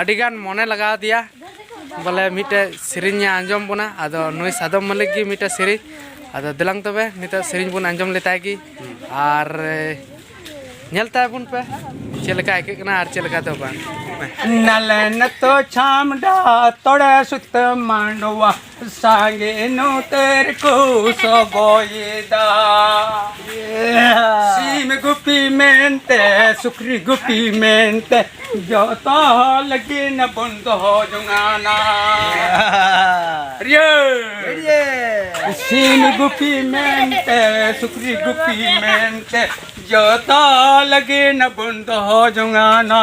ᱟᱹᱰᱤ ᱜᱟᱱ ᱢᱚᱱᱮ ᱞᱟᱜᱟᱣ ᱫᱮᱭᱟ ᱵᱚᱞᱮ ᱢᱤᱫᱴᱮᱡ ᱥᱮᱨᱮᱧ ᱟᱸᱡᱚᱢ ᱵᱚᱱᱟ ᱟᱫᱚ ᱱᱩᱭ ᱥᱟᱫᱚᱢ ᱢᱟᱹᱞᱤᱠ ᱜᱮ ᱢᱤᱫᱴᱮᱡ ᱥᱮᱨᱮᱧ ᱟᱫᱚ ᱫᱮᱞᱟᱝ ᱛᱚᱵᱮ ᱱᱤᱛᱚᱜ ᱥᱮᱨᱮᱧ ᱵᱚᱱ ᱟᱸᱡᱚᱢ ᱞᱮᱛᱟᱭ ᱜᱮ ᱟᱨ ᱧᱮᱞ ᱛᱟᱭ ᱵᱚᱱ ᱯᱮ ᱪᱮᱫ ᱞᱮᱠᱟ ᱟᱹᱭᱠᱟᱹᱜ ᱠᱟᱱᱟ ᱟᱨ ᱪᱮᱫ ᱞᱮᱠᱟ ᱫᱚ ᱵᱟᱝ ᱱᱟᱞᱮᱱ ᱛᱚ ᱪᱷᱟᱢᱰᱟ ᱛᱚᱲᱮ ᱥᱩᱛᱟᱹᱢ ᱢᱟᱸᱰᱣᱟ ᱥᱟᱸᱜᱮᱱᱚ ᱛᱮᱨ ᱠᱚ ᱥᱚᱵᱚᱭᱮᱫᱟ ᱥᱤᱢ ᱜᱩᱯᱤ ᱢᱮᱱᱛᱮ ᱥᱩᱠᱨᱤ ᱜᱩᱯᱤ ᱢᱮᱱᱛᱮ ᱡᱚᱛᱚ ᱞᱟᱹᱜᱤᱫ ᱵᱚᱱ ᱫᱚᱦᱚ ᱡᱚᱝᱟᱱᱟ ᱥᱤᱢ ᱜᱩᱯᱤ ᱢᱮᱱᱛᱮ ᱥᱩᱠᱨᱤ ᱜᱩᱯᱤ ᱢᱮᱱᱛᱮ ᱡᱚᱛᱚ ᱞᱟᱹᱜᱤᱫ ᱵᱚᱱ ᱫᱚᱦᱚ ᱡᱚᱝᱟᱱᱟ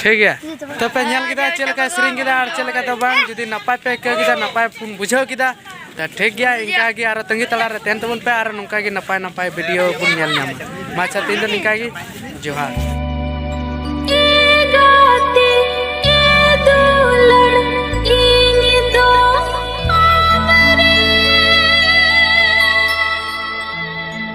ᱴᱷᱤᱠ ᱜᱮᱭᱟ ᱛᱚ ᱯᱮ ᱧᱮᱞ ᱠᱮᱫᱟ ᱪᱮᱫ ᱞᱮᱠᱟ ᱥᱮᱨᱮᱧ ᱠᱮᱫᱟ ᱟᱨ ᱪᱮᱫ ᱞᱮᱠᱟ ᱫᱚ ᱵᱟᱝ ᱡᱩᱫᱤ ᱱᱟᱯᱟᱭ ᱯᱮ ᱟᱹᱭᱠᱟᱹᱣ ᱠᱮᱫᱟ ᱱᱟᱯᱟᱭ ᱯᱩᱱ ᱵᱩᱡᱷᱟᱹᱣ ᱠᱮᱫᱟ ᱛᱚ ᱴᱷᱤᱠ ᱜᱮᱭᱟ ᱤᱱᱠᱟ ᱜᱮ ᱟᱨᱚ ᱛᱟᱺᱜᱤ ᱛᱟᱞᱟ ᱨᱮ ᱛᱟᱦᱮᱱ ᱛᱟᱵᱚᱱ ᱯᱮ ᱟᱨ ᱱᱚᱝᱠᱟ ᱜᱮ ᱱᱟᱯᱟᱭ ᱱᱟᱯᱟᱭ ᱵᱷᱤᱰᱤᱭᱳ ᱵᱚᱱ ᱧᱮᱞ ᱧᱟᱢᱟ ᱢᱟ ᱟᱪᱪᱷᱟ ᱛᱮᱦᱮᱧ ᱫᱚ ᱱᱤᱝᱠᱟ ᱜᱮ ᱡᱚᱦᱟᱨ